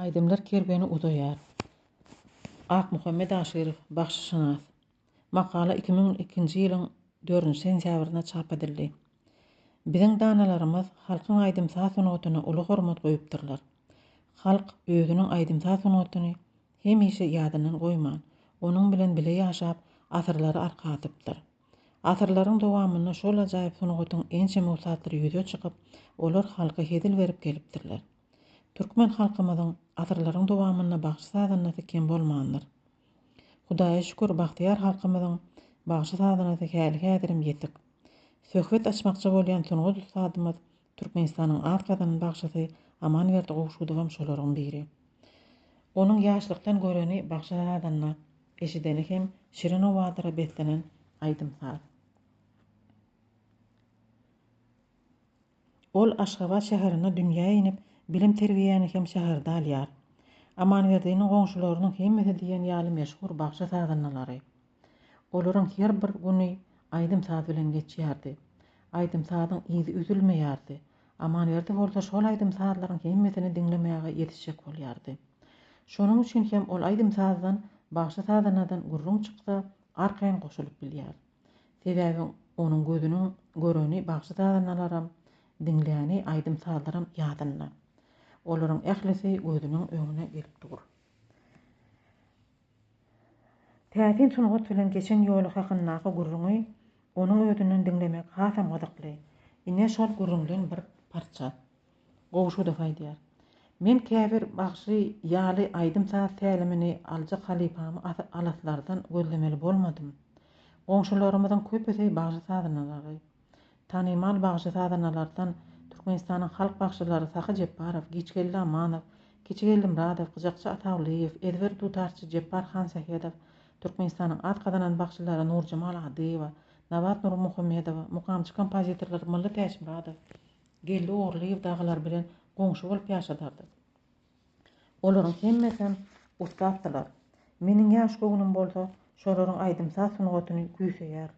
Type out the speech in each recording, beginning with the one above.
Aýdymlar kerweni uzaýar. Akmuhammet Aşyrow, bagşyşynas. Makala iki müň ikinji ýylyň dördünji sentýabrynda çap edildi. Biziň danalarymyz halkyň aýdym-saz sungatyna uly hormat goýupdyrlar. Halk özüniň aýdym-saz sungatyny hemişe ýadyndan goýman, onuň bilen bile ýaşap, asyrlary arka atypdyr. Asyrlaryň dowamynda şol ajaýyp sungatyň ençeme ussatlyry ýüze çykyp, olar halka hezil berip gelipdirler. Türkmen halkymyzyň asyrlaryň dowamynda bagşy-sazandasy kem bolmandyr. Hudaýa şükür, bagtyýar halkymyzyň bagşy-sazandasy häli-häzirem ýetik. Söhbet açmakçy bolýan sungat ussadymyz, Türkmenistanyň at gazanan bagşysy Amanberdi Gowşudowam şolaryň biri. Onuň ýaşlykdan göreni bagşy-sazanda, eşideni hem şirin owazyra beslenen aýdym-saz. Ol Aşgabat şäherinde dünýä inip, bilim-terbiýäni hem şäherde alýar. Amanberdiniň goňşularynyň hemmesi diýen ýaly meşhur bagşy-sazandalary. Olaryň her bir güni aýdym-saz bilen geçýärdi. Aýdym-sazyň yzy üzülmeýärdi. Amanberdi bolsa şol aýdym-sazlaryň hemmesini diňlemäge ýetişjek bolýardy. Şonuň üçin hem ol aýdym-sazdan, bagşy-sazandadan gürrüň çyksa, arkaýyn goşulyp bilýär. Sebäbi onuň gözüniň göreni bagşy-sazandalaram, diňläni aýdym-sazlaram ýadynda. Olaryň ählisi gözüniň öňüne gelip dur. Täsin sungat bilen geçen ýoly hakyndaky gürrüňi onuň özünden diňlemek hasam gyzykly. Ine, şol gürrüňden bir parça. Gowşudow aýdýar. Men käbir bagşy ýaly aýdym-saz tälimini aljak halypamy alaslardan gözlemeli bolmadym. Goňşularymyzyň köpüsi bagşy-sazanalary. Tanymal bagşy-sazanalardan Türkmenistanyň halk bagşylary Sahy Jepbarow, Giçgeldi Amanow, Kiçigeldi Myradow, Gyjakçy Atawlyýew, ezber dutarçy Jepbar Hansähedow, Türkmenistanyň at gazanan bagşylary Nurjemal Adyýewa, Nabat Nurmuhammedowa, mukamçy-kompozitorlar Mylly Täçmyradow, Geldi Ogurlyýew dagylar bilen goňşy bolup ýaşadardyk. Olaryň hemmesem ussatdylar. Meniň ýaş göwnüm bolsa şolaryň aýdym-saz sungatyny küýseýär.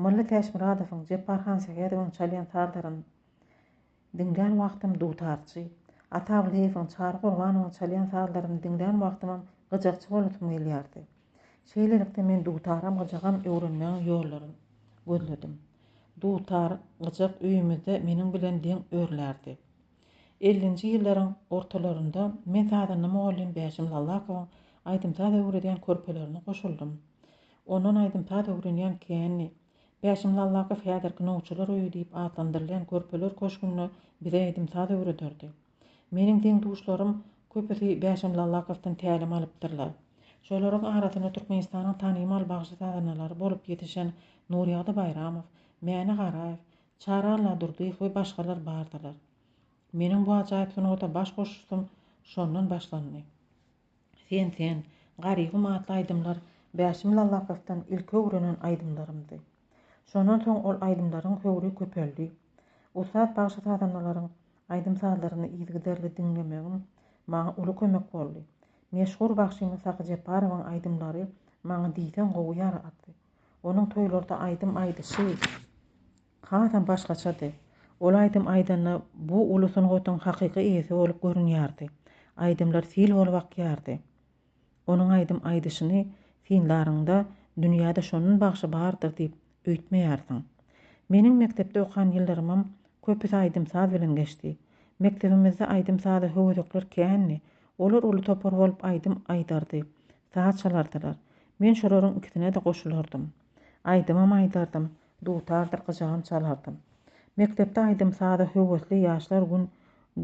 Mylly Täçmyradowyň, Jepbar Hansähedowyň çalýan sazlaryny diňlän wagtym dutarçy, Atawlyýewiň, Çary Gurbanowyň çalýan sazlaryny diňlän wagtymam gyjakçy bolasym gelýärdi. Şeýlelikde men dutaram gyjagam öwrenmegiň ýollaryny gözledim. Dutar, gyjak öýümizde meniň bilen deň örlärdi. Ellinji ýyllaryň ortalarynda men sazanda mugallym Bäşim Lallakowyň aýdym-saz öwredýän körpelerine goşuldym. Ondan aýdym-saz öwrenýän käni. Bäşim Lallakow häzirki Nowçular öýi diýip atlandyrylýan körpeler köşgünde bize aýdym-saz öwrederdi. Meniň deň-duşlarym köpüsi Bäşim Lallakowydan tälim alypdyrlar. Şolaryň arasynda Türkmenistanyň tanymal bagşy-sazandalary bolup ýetişen Nurýagdy Baýramow, Mäne Garaýew, Çary Alladurdyýew we başgalar bardylar. Meniň bu ajaýyp sungata baş goşuşym şondan başlandy. Sen sen, Garygum atly aýdymlar Bäşim Lallakowdan ilki öwrenen aýdymlarymdy. Şondan soň ol aýdymlaryň höwri köpeldi. Ussat bagşy-sazandalaryň aýdym-sazlaryny yzygiderli diňlemegim maňa uly kömek boldy. Meşhur bagşymyz Sahy Jeparowyň aýdymlary maňa diýseň gowy ýaraty. Onuň toýlarda aýdym aýdyşy. Hasam başgaçady. Ol aýdym aýdanda bu uly sungatyň hakyky eýesi bolup görünýärdi. Aýdymlar sil bolup akýardy. Onuň aýdym aýdyşyny synlaryňda dünýäde şonun bagşy bardyr diýip öýtmeýärsiň. Meniň mekdepde okan ýyllarymam köpüsi aýdym-saz bilen geçdi. Mekdebimizde aýdym-saza höwezekler kändi. Olar uly topar bolup aýdym aýdardy. Saz çalardylar. Men şolaryň ikisine-de goşulardym. Aýdymam aýdardym. Dutardyr gyjagam çalardym. Mekdepde aýdym-saza höwesli ýaşlar gün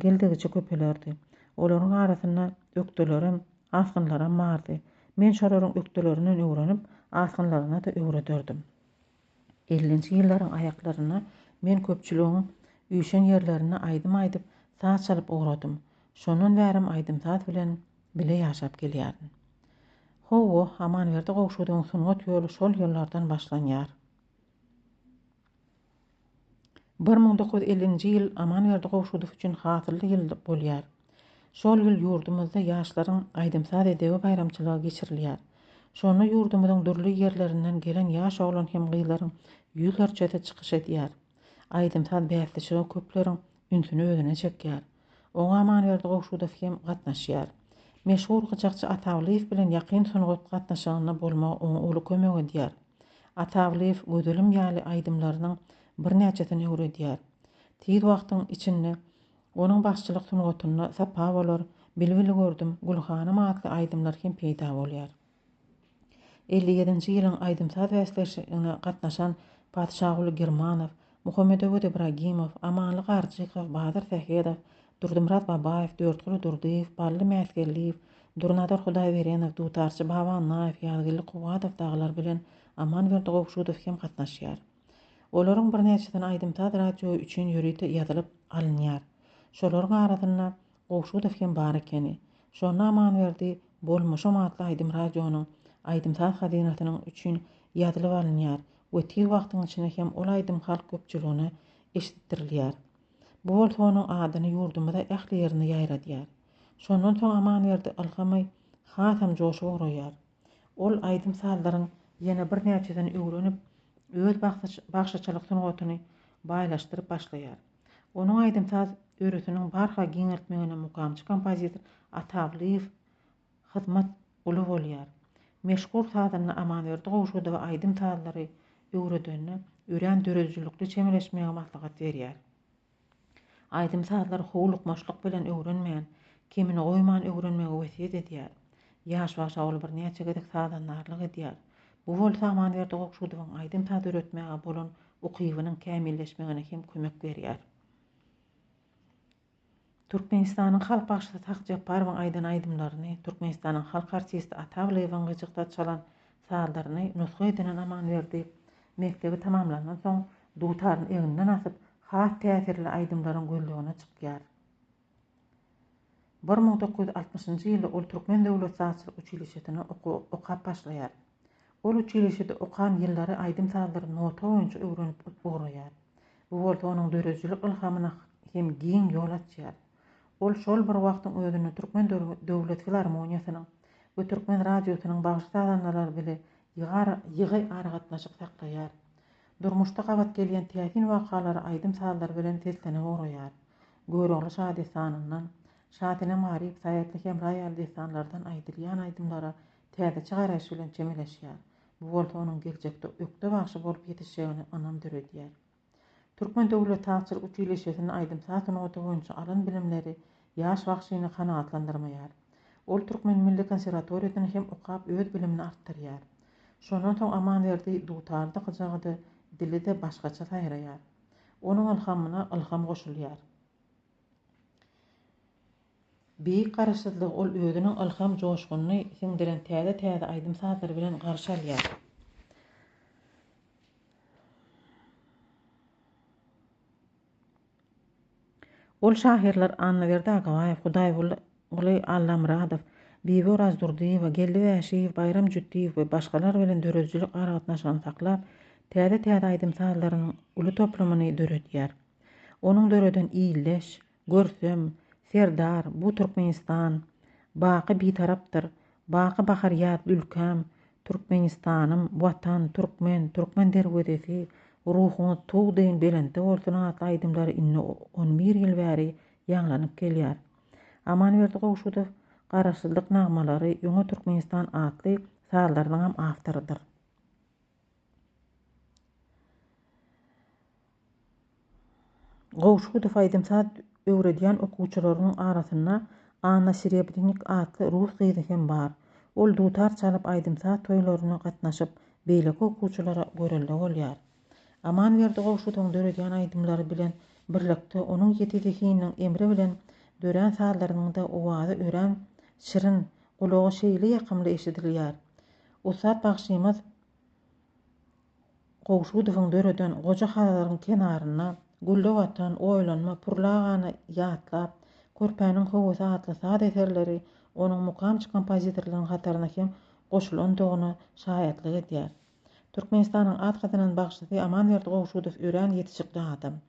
geldikije köpelerdi. Olaryň arasynda ökdelerem, asgynlaram bardy. Men şolaryň ökdelerinden öwrenip, asgynlaryna-da öwrederdim. Ellinji ýyllaryň aýaklarynda men köpçüligiň üýşen ýerlerinde aýdym aýdyp, saz çalyp ugradym. Şondan bärem aýdym-saz bilen Bile ýaşap gelýärin. Hawa, Amanberdi Gowşudowyň sungat ýoly şol ýyllardan başlanýar. Bir müň dokuz ýüz ellinji ýyl Amanberdi Gowşudow üçin hasylly ýyl bolýar. Şol ýyl ýurdumyzda ýaşlaryň aýdym-saz edebi baýramçylygy geçirilýär. Şonda ýurdumyzyň dürli ýerlerinden gelen ýaş oglan hem gyzlaryň ýüzlerçesi çykyş edýär. Aýdym-saz bäsleşigi köpleriň ünsüni özüne çekýär. Oňa Amanberdi Gowşudow hem gatnaşýar. Meşhur gyjakçy Atawlyýew bilen ýakyn sungat gatnaşygynda bolmagy oňa uly kömek edýär. Atawlyýew Gözelim ýaly aýdymlarynyň birnäçesini öwredýär. Tiz wagtyň içinde onuň bagşyçylyk sungatynda Sapa bolar, Bilbili gördüm, Gülhanym atly aýdymlar hem peýda bolýar. Elli ýedinji ýylyň aýdym-saz bäsleşigine gatnaşan Patyşaguly Girmanow, Muhammedöwez Ibragimow, Amanly Garjykow, Badyr Sähedow, Durdymyrat Babaýew, Dörtguly Durdyýew, Bally Mätgeldiýew, Durnazar Hudaýberenow, dutarçy Baba Annaýew, Ýazgeldi Kuwwadow dagylar bilen Amanberdi Gowşudow hem gatnaşýar. Olaryň birnäçesini aýdym-saz radio üçin ýörite ýazylyp alynýar. Şolaryň arasynda Gowşudow hem bar ekeni. Şonda Amanberdi Bolmuşym atly aýdym radionyň Aýdym-saz hazynasynyň üçin ýazylyp alynýar we tiz wagtyň içinde hem ol aýdym halk köpçüligine eşitdirilýär. Bu bolsa onuň adyny ýurdumyza ähli ýerine ýaýradýar. Şondan soň Amanberdi ylgamy hasam joşup ugraýar. Ol aýdym-sazlaryň ýene birnäçesini öwrenip, öz bagşyçylyk sungatyny baýlaşdyryp başlaýar. Onuň aýdym-saz örüsiniň barha giňeltmegine mukamçy kompozitor Atawlyýew hyzmat uly bolýar. Meşhur sazanda Amanberdi Gowşudowa aýdym-sazlary öwredende örän döredijilikli çemeleşmegi maslahat berýär. Aýdym-sazlary howlukmaçlyk bilen öwrenmän, kemini goýman öwrenmegi wesýet edýär. Ýaş wagşa ol birnäçe gezek sazandarlyk edýär. Bu bolsa Amanberdi Gowşudowyň aýdym-saz döretmäge bolan ukybynyň kämilleşmegine hem kömek berýär. Türkmenistanyň halk bagşysy Sakjapbarowyň aýdan aýdymlaryny Türkmenistanyň halk artisti Atagylyýewiň gyjykda çalan Çadyryny nusga edinen Amanberdi mekdebi tamamlandan soň dutaryny egninden asyp, has täsirli aýdymlaryň gözlegine çykýar. Bir müň dokuz ýüz altmyşynjy ýylda ol Türkmen döwlet sazçylyk uçilişesine okap başlaýar. Ol uçilişede okan ýyllary aýdym-sazlary nota boýunça öwrenip ugraýar. Bu bolsa onuň döredijilik ylhamyna hem giň ýol açýar. Ol şol bir wagtyň özünde Türkmen döwlet filarmoniýasynyň we Türkmen radiosynyň bagşy-sazandalary bile ýygy aragatnaşyk saklaýar. Durmuşda gabat gelýän täsin wakalary aýdym-sazlary bilen seslenip ugraýar. Görogly şadessanyndan, Şasenem Garyp, Saýatly Hemra ýaly dessanlardan aýdylýan aýdymlara täzeçe garaýyş bilen çemeleşýär. Bu bolsa onuň geljekde ökde bagşy bolup ýetişjegine ynam döredýär. Türkmen döwlet sazçylyk utiliseýsinde aýdym-saz sungaty boýunça alan bilimleri ýaş bagşyny kanagatlandyrmaýar. Ol Türkmen milli konserwatoriýasyny hem okap öz bilimini artdyrýar. Şondan soň Amanberdi dutary-da gyjagy-da, dili-de başgaça saýraýar. Onuň ylhamyna ylham goşulýar. Beýik Garaşsyzlygy ol özüniň ylham joşgunyny siňdiren täze-täze aýdym-sazlary bilen garşy alýar. Ol şahyrlar Annaberdi Agabaýew, Hudaýguly Allamyradow, Bibi Orazdurdyýewa, Geldi Wäşiýew, Baýram Jütdiýew we başgalar bilen döredijilik aragatnaşygyny saklap, täze-täze aýdym-sazlarynyň uly toplumyny döredýär. Onuň döreden Ildeş, Görsem, Serdar, Bu Türkmenistan, Baky Bitarapdyr, Baky Bahar Ýaz Ülkäm, Türkmenistanym, Watan, Türkmen, Türkmen derwezesi, Ruhuňyz tug deýin belentde bolsun atly aýdymlary indi on bir ýyl bäri ýaňlanyp gelýär. Amanberdi Gowşudow Garaşsyzlyk nagmalary, Öňe Türkmenistan atly sazlarynyňam awtorydyr. Gowşudow aýdym-saz öwredýän okuwçylarynyň arasynda Anna Serebrynik atly rus gyzy hem bar. Ol dutar çalyp aýdym-saz toýlaryna gatnaşyp, beýleki okuwçylara görelde bolýar. Amanberdi Gowşudowyň döredýän aýdymlary bilen birlikde onuň ýiti zehininiň emri bilen dörän sazlarynyň-da owazy örän şirin, gulaga şeýle ýakymly eşidilýär. Ussat bagşymyz. Gowşudowyň döreden Goja Hazaryň kenarynda gülläp atan Oýlanma purlagany ýatlap, Körpäniň howasy atly saz eserleri onuň mukamçy kompozitorlarynyň hataryna hem goşulandygyna şaýatlyk edýär. Türkmenistanyň at gazanan bagşysy Amanberdi Gowşudow örän ýetişikli adam.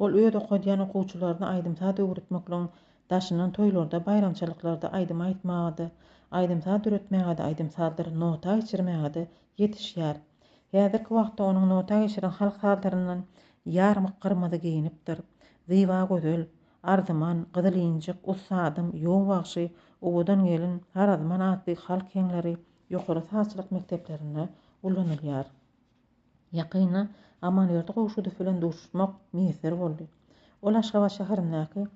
Ol öz okadýan okuwçylaryna aýdym-saz öwretmekligiň daşyndan toýlarda, baýramçylyklarda aýdym aýtmaga-da, aýdym-saz döretmäge-de, aýdym-sazdyr nota geçirmäge-de ýetişýär. Häzirki wagtda onuň nota geçiren halk sazlaryndan Ýarmyk gyrmyzy geýinipdir, Zyba gözel, Arzyman, Gyzyl injik, Ussadym, Ýow bagşy, Owadan gelin, Harazman atly halk heňleri ýokary sazçylyk mekdeplerinde ulanylýar. Ýakynda Amanberdi Gowşudow bilen duşuşmak miýesser boldy. Ol Aşgabat şäherindäki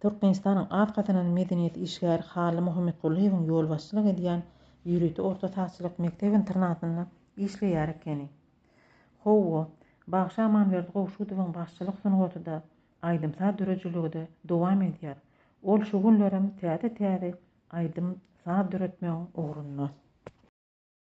Türkmenistanyň at gazanan medeniýet işgäri Hally Muhammetgulyýewiň ýolbaşçylyk edýän ýörite orta sagçylyk mekdep-internatynda işleýär ekeni. Hawa, bagşy Amanberdi Gowşudowyň bagşylyk sungaty-da, aýdym-saz döredijiligi-de dowam edýär. Ol şu günlerem täze-täze aýdym-saz döretmegiň ugrunda.